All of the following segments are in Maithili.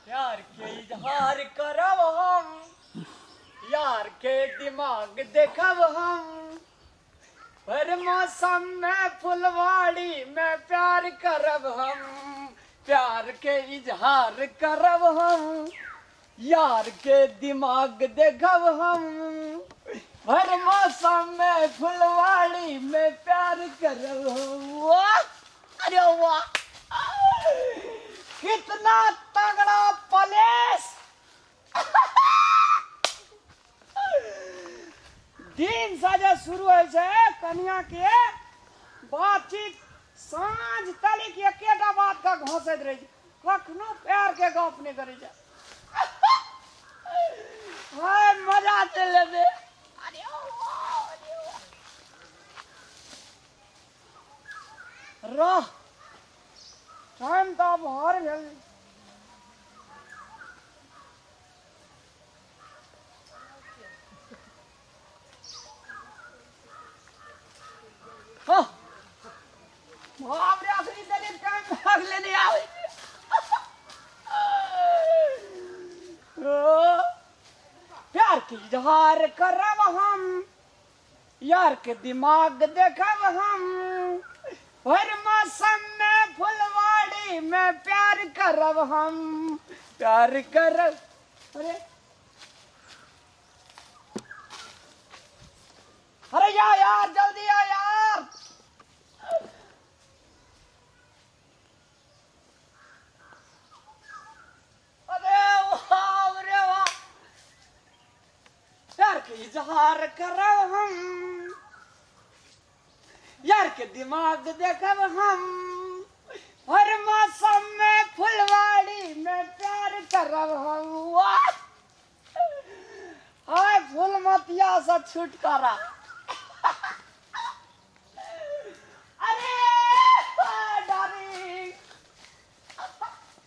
यार के इजहार करब हम यार के दिमाग देखब हम हर मौसम में फुलवाड़ी में प्यार करब हम प्यार के इजहार करब हम यार के दिमाग देखब हम हर मौसम में फुलवाड़ी में प्यार करब हम वाह अरे वाह कितना तगड़ा प्लेस दिन साजे शुरू होइ छै कनिया के बातचीत साँझ तलिक एकेटा बात का घोंसैत रहै छै कखनो प्यार के गप नहि करै छै हाय मजा चलि लेतै रह टाइम तऽ आब हर भेल हँ बाप रे असली दलित टाइम भाग लेने आवे ओ, प्यार की इजहार करब हम यार के दिमाग देखब हम हर मौसम में फुलवाड़ी में प्यार करब हम प्यार करब अरे अरे या यार जल्दी आ यार इजहार करब हम यार के दिमाग देखब हम हर मौसम में फुलवाड़ी में प्यार करब हम वाह हाय फुलमतिया से छुटकारा अरे डार्लिंग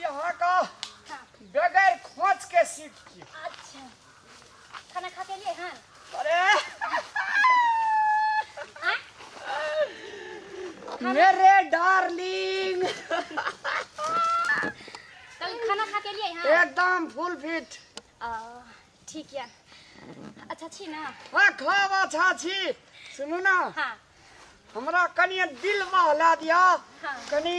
यहाँ का बगैर खोच के सीट की अच्छा खाना खा के लिए हन अरे मेरे डार्लिंग कल खाना खा के लिए हन एकदम फुल फिट आ, ठीक या अच्छा छी ना हाँ खाब अच्छा छी सुनू ना हाँ हमरा कनिए दिल बहला दिया हाँ। कनी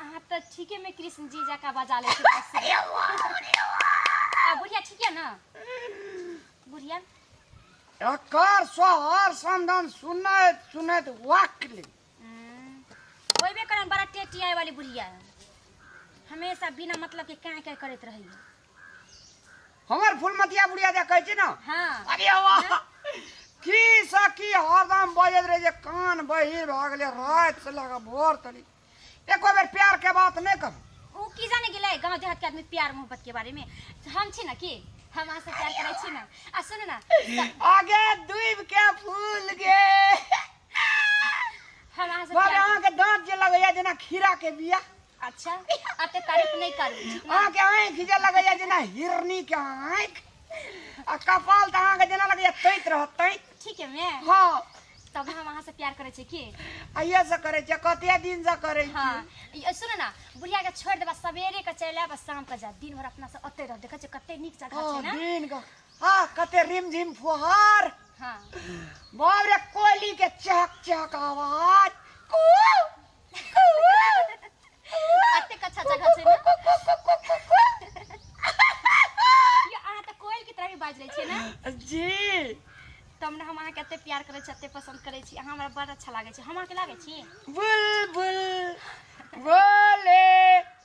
अहाँ तऽ ठीके में कृष्ण जी जका बजा ले छी बस। आ बुढ़िया ठीक है ना बुढ़िया एकर सोहर संदन सुनैत सुनैत वाकली हम्म, कोई भी करन बड़ा टेटी आए वाली बुढ़िया है हमेशा बिना मतलब के क्या क्या करत रही हमर फुलमतिया बुढ़िया जे कहै छै ने हाँ अरे वाह की सखी हरदम बजैत रहे जे कान बहिर भऽ गेलै राति से लगा भोर तली एको बेर प्यार के बात नहि करू ओ की जाने गेलै गांव देहात के आदमी प्यार मोहब्बत के बारे में हम छी ना की हम अहाँ से प्यार करै छी ना आ सुनू ना आगे डूब के फूल गे हमरा से बाबा प्यार अहाँके दाँत जे लगैया जेना खीरा के बिया अच्छा अते तारीफ नहीं करू ठीक ना? अहाँके आँखि जे लगैया जेना हिरनी के आँखि आ कपाल तऽ अहाँके जेना लगैया तैत रहत तैत ठीक है मैं हँ तब हम अहाँ से प्यार करे छी की आइए से करै छियै कते दिन से करै छी हाँ ये सुन ना बुढ़िया के छोड़ देबा सवेरे के चल आब शाम के जा दिन भर अपना से ओते रह देखे छै कते नीक जगह ओ छै ना दिन के आह कते रिमझिम फुहार हाँ बाप रे कोयली के चहक चहक आवाज कू, कू, अतेक अच्छा जगह छै ने कू, कू, कू, कू, कू, कू। यो अहाँ तऽ कोयल की तरह भी बाजि लै छियै ने जी तब ने हम अहाँके एते प्यार करै छी एते पसंद करै छी अहाँ हमरा बड़ अच्छा लागै छै हम अहाँके लागै छी बुलबुल बोले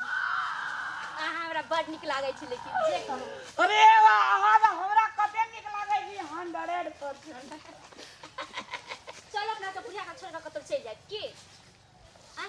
अहाँ हमरा बड नीक लागै छै लेकिन जे कहू अरे वाह अहाँ तऽ हमरा कते नीक लागै छी हंड्रेड परसेंट चल अपना के बुढ़िया के छोड़ के कतौ चलि जाए की आ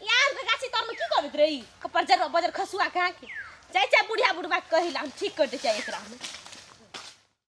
यार के गाछी तर में की करत रही बजर बजर खसुआ कहा के जाय जाय बुढ़िया बुढ़वा के कहिला हम ठीक कर दे जाय एकरा में